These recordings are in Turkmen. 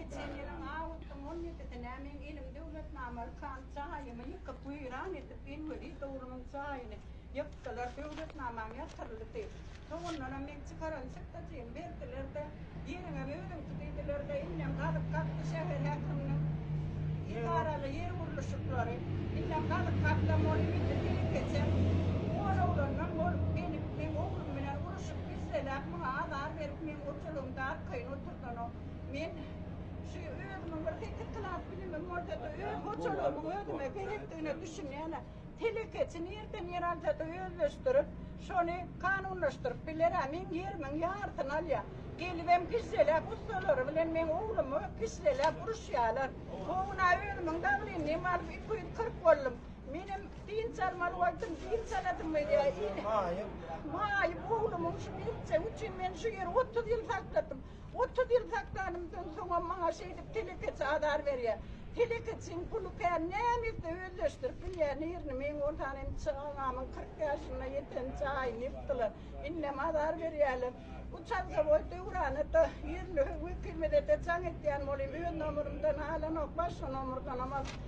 Geçen ýylyň awgustyň on ýedisine men elim döwletnamaly kant jaýymy ýykyp, weýran edip, Elweli dowlunyň jaýyny ýykdylar. Döwletnamam ýatyryldy. Soňundanam men çykaran çykdajymy berdiler-de, Ýeriňem özüňki diýdiler-de, indem gazyp gazdy şäher häkiminiň edaraly ýer gurluşyklary. Indem gazyp gazsam ol indi dili keçen oňar oglandan bolup gelip, meň oglum bilen uruşyp, gizleläp, muňa azar berip, meň otalygyňda arkaýyn oturdanok. Men şu özümiň bir sekiz klas bilimim bolsa-da, öz hojalygymyň özüme gerekdigine düşünýän-ä. Telekeçi nireden ýer alsa-da özleşdirip, şony kanunlaşdyryp biler-ä. Meň ýerimiň ýarysyny alýar. Gelibem gişželäp ussalary bilen meň oglumy gişželäp uruşýarlar. O gün-ä özümiň daglynymy alyp iki ýüz kyrk boldum. Menem dynç almaly bolsam, dynç aladym welin, ine, maýyp oglumyň şu beltjegi üçin men şu ýeri otuz ýyl sakladym. Otuz ýyl saklanymdan soňam maňa şeýdip telekeçi azar berýär. Telekeçiň puly kän näme etse özleşdirip bilýär. Nirni meň bolsan indi çagamyň kyrk ýaşyna ýeten jaýyny ýykdylar. Indem azar berýärler. Bu çarzawoý döwrana-da, ýerli wekilmede-de jaň etýän bolyň. Öz nomerymdan alanok, başga nomerdanam al.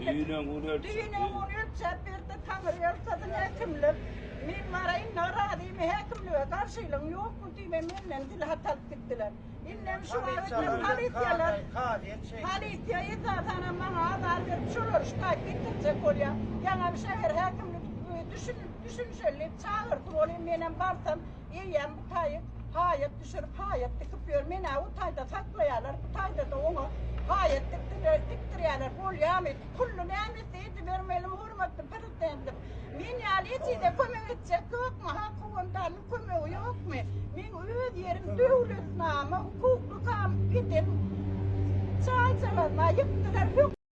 Düýnem un ölçäp. Düýnem un ölçäp berdi, taňry ýalkasyn häkimlik. Men baraýyn, narazymy häkimlige, garşylygyň ýokmy diýme, menden dil hat alyp gitdiler. Indem şu wagt hem polisiýalar, polisiýa esasanam maňa azar berip, şolary şikaýat getirjek bolýar. Ýaňam şäher häkimlik düşünip, düşünişeli diýip çagyrdy, bolýa menem barsam, Eýýäm bu taýy haýat düşürip, haýat dikip ýör. Men-ä o taýda saklaýarlar, bu taýda-da oňa haýat dikdirer, dikdirýärler. Bolýamy? Pully nämesi edibermeli hormatly Prezidentimiz? Men ýaly ejizä kömek etjek ýokmy? Ha, kowandanyň kömegi ýokmy? Meň öz ýerim döwletnama hukukly kam eden çaýçalaryma ýykdylar.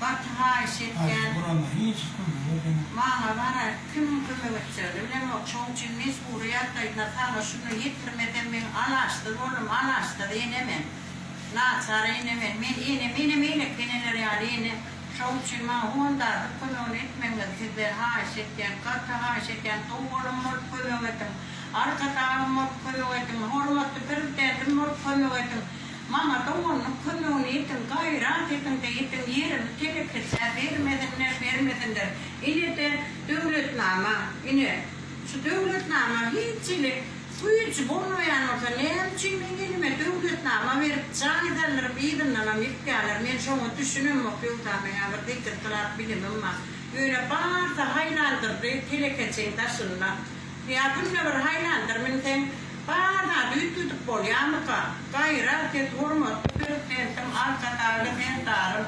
Gaty haýyş etýän. Maňa barar kim kömek etjegini bilemok şoň üçin mejbury ýagdaýda saňa şuny ýetirmesem meň alaçsyz boldum alaçsyz ene men naçar ene men men ene menem beýleki eneler ýaly ene şoň üçin maňa hondarlyk kömegini etmegiňizi sizden haýyş etýän gaty haýyş etýän sow bolam bolup kömek ediň arkadagym bolup kömek ediň hormatly prezidentim bolup kömek ediň. Maňa doganlyk kömegini ediň, gaýrat ediň-de ediň, ýerimi telekeçä bermesinler, bermesinler. Ine-de döwletnama, ine, şu döwletnama hiç hili güýji bolmaýan bolsa, näme üçin meň elime döwletnama berip, jaýdarlaryň yzyndanam ýykýarlar? Men şoňa düşünemok, ýogsa meň-ä bir zikir kylap bilimim bar. Ýöne barsa haýlandyrdy telekeçiň daşynda. Ýa günde bir haýlandyr münseň, bar zady üýtgedip bolýamyka? Gaýra, siz hormatly Prezidentiň Arkadagly serdarym.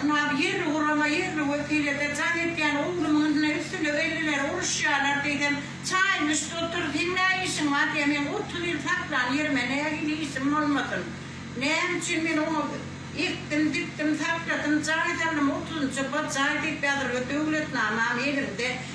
Ynha, ýerli gurama, ýerli wekilede jaň etýän oglumyň yzyna üstüne elliler uruşýarlar diýsem, çaýyň üsti otur, seň nä işiň bar diýýär, meň otuz ýyl saklan ýerime nähili işim bolmasyn? Näme üçin men oňa ekdim, dikdim, sakladym, jaý saldym, otuzynjy B jaý diýip ýazylgy döwletnamam elimde.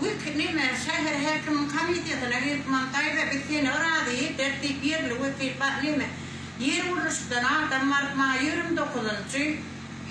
Wekil neme, şäher häkimiň komitetyna gelip maň daýza biz seni yrazy ederis diýip ýerli wekil bar neme, ýer gurluşykdan adam baryp maňa ýigrimi dokuzynjy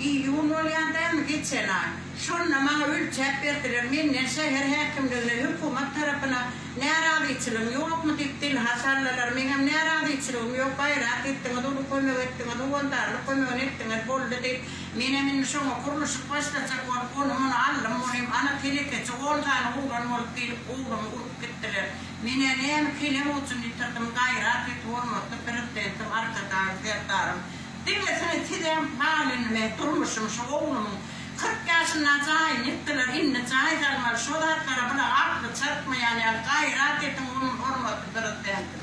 iýun bolýar dämi geçen aý, şonda maňa ölçäp berdiler menden şäher häkimligine hökümet tarapyna närazyçylygyň ýokmy diýip dilha sallalar meňem närazyçylygym ýok gaýrat etdiňiz uly kömek etdiňiz howandarlyk kömegini etdiňiz boldy diýip Menem indi şoňa gurluşyk başlajak bolup, ony-muny aldym, ol hem ana telekeçi on sany oglan bolup gelip goburymy urup gitdiler. Men-ä näme kelem uçuny ýitirdim, gaýrat et hormatly Prezidentim Arkadagym Serdarym, diňlesene sizem bal indi meň durmuşym şu oglumyň kyrk ýaşynda jaýyny ýykdylar indi jaý salmaly şo zatlara bulaň akly çatmaýan ýaly gaýrat ediň hormatly Prezidentim.